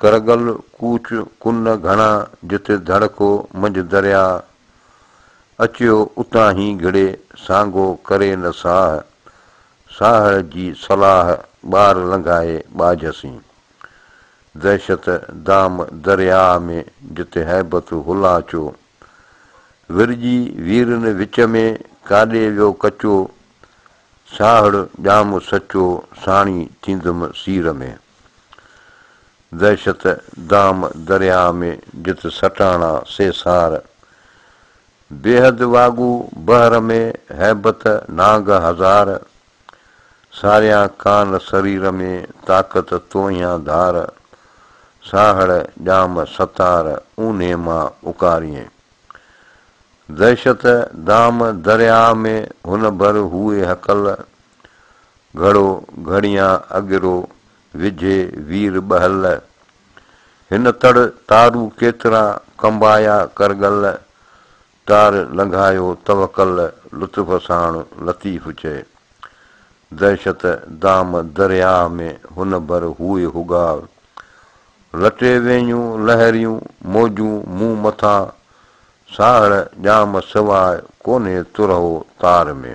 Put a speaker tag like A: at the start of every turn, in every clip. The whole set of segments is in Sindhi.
A: ڪرگل ڪوچ ڪن گهڻا جتي ڌڙ ڪو منجهه درياء اچيو اتان هي گهڙي سانگو ڪري نه ساهه ساهڙ جي صلاح ٻار لنگهائي ٻاجهه سين دهشت دام درياء ۾ جتي هيبت هلا چو ورجي ويرن وچ ۾ ڪاڏي ويو ڪچو ساهڙ ڄام سچو ساڻي ٿيندم سير ۾. دهشت دام درياء ۾ جت سٽاڻا سيسار. بيحد واڳو بحر ۾ هيبت نانگ هزار. ساريان ڪان سرير ۾ طاقت توهيان ڌار. ساهڙ ڄام ستار اونهي مان اڪارين. دهشت دام درياء ۾ هن ڀر هوئي هڪل، گهڙو گهڙيان اڳرو وجهي وير ٻهل. هن تڙ تارو ڪيترا ڪنبايا ڪرڳل، تار لنگهايو توڪل لطف ساڻ لطيف چئي. دهشت دام درياء ۾ هن ڀر هوئي هوڳار، لٽي وينيون لهريون موجون مون مٿان ساهڙ ڄام سواء ڪونهي ترهو تار ۾،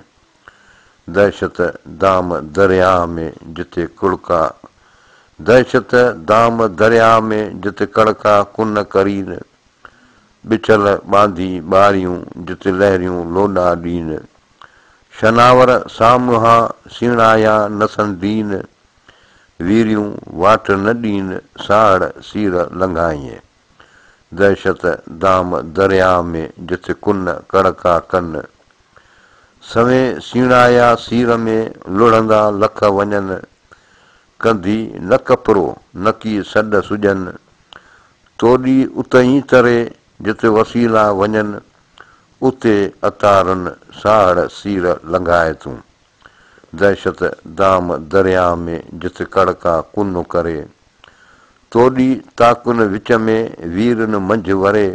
A: دهشت دام درياهه ۾ جتي ڪڙڪا دهشت دام درياهه ۾ جت ڪڙڪا ڪن ڪرين، ٻچل ٻانڌي ٻاريون جت لهريون لوڏا ڏين، شناور سامهان سيڻايا نسن ڊين. ويريون واٽ نه ڏين ساهڙ سير لنگهائينء. دهشت دام درياء ۾ جٿ ڪن ڪڙڪا ڪن. سوين سيڻايا سير ۾ لڙهندا لک وڃن. ڪنڌي نه ڪپرو نڪي سڏ سڄن. توڏي اتهين تري جت وسيلا وڃن. اتي اتارن ساهڙ سير لنگهائي تون. دهشت دام درياء ۾ جت ڪڙڪا ڪن ڪري. توڏي تاڪن وچ ۾ ويرن منجهه وري.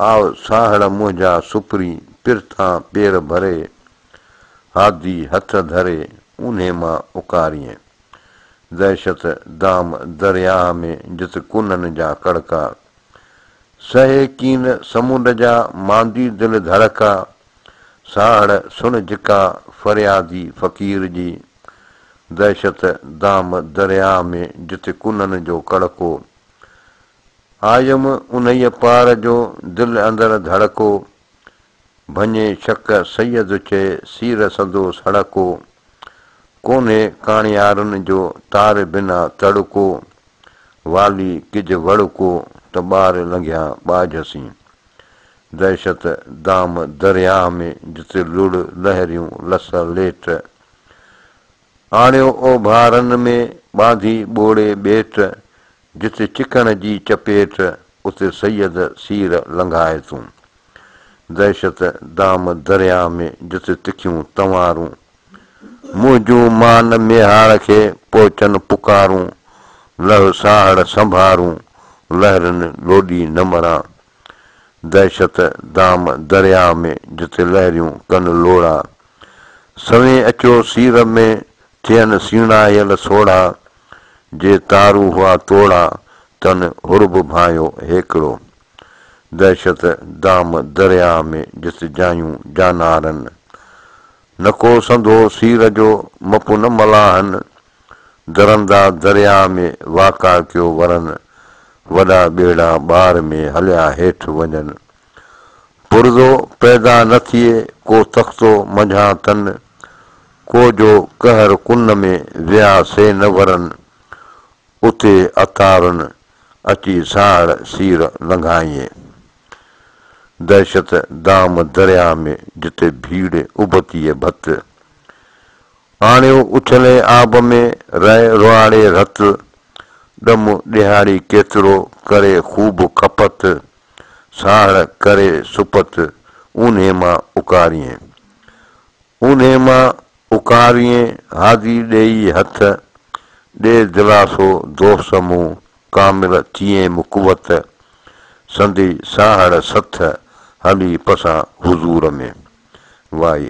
A: آء ساهڙ منهنجا سپري پرٿان پير ڀري. هادي هٿ ڌري اونهي مان اڪارين. دهشت دام درياء ۾ جت ڪنن جا ڪڙڪا. سهي ڪين سمنڊ جا ماندي دل ڌڙڪا. ساهڙ سڻ جڪا فريادي فقير جي دهشت دام درياء ۾ جتي ڪنن جو ڪڙڪو. آيم انهيء پار جو دل اندر ڌڙڪو. ڀڃي شڪ سيد چئي سير سندو سڙڪو. ڪونهي ڪاڻيارن جو تار بنا تڙڪو. والي ڪج وڙڪو ته ٻار لنگهيا ٻاجهه سين. دهشت دام درياهه ۾ جتي لڙ لهريون لس ليٽ. آڻيو اوڀارن ۾ ٻانڌي ٻوڙي ٻيٽ جتي چڪڻ جي چپيٽ اتي سيد سير لنگهائي تون. دهشت دام درياهه ۾ جتي تکيون تنوارون منهنجون مان ميهاڙ کي پهچن پڪارون لهه ساهڙ سنڀارون لهرين لوڏي نه مران دهشت دام درياهه ۾ جتي لهريون ڪن لوڙها. سوين اچو سير ۾ ٿين سيڻاهيل سوڙها. جي تارو هئا توڙها تن هرب ڀانئيو هيڪڙو. دهشت دام درياهه ۾ جت جايون جانارن. نڪو سنڌو سير جو مپ نه ملاحن. درندا درياهه ۾ واڪع ڪيو ورن، وڏا ٻيڙا ٻار ۾ هليا هيٺ وڃن. پرزو پيدا نه ٿئي ڪو تختو منجهان تن، ڪو جو قهر ڪن ۾ ويا سي نه ورن، اتي عطارن اچي ساهڙ سير لنگهائين. دهشت دام درياهه ۾ جتي ڀيڙ ابتيء ڀت، آڻيو اڇلي آب ۾، رئي رئاڙي رت، ڏم ڏيهاڙي ڪيترو، ڪري خوب کپت، ساهڙ ڪري سپت، اونهي مان اڪاريين. اونهي مان اڪاريين، هادي ڏيئي هٿ، ڏي دلاسو دوست مون، ڪامل ٿيين مقوت، سندي ساهڙ سٿ، هلي پسان حضور ۾. وائي.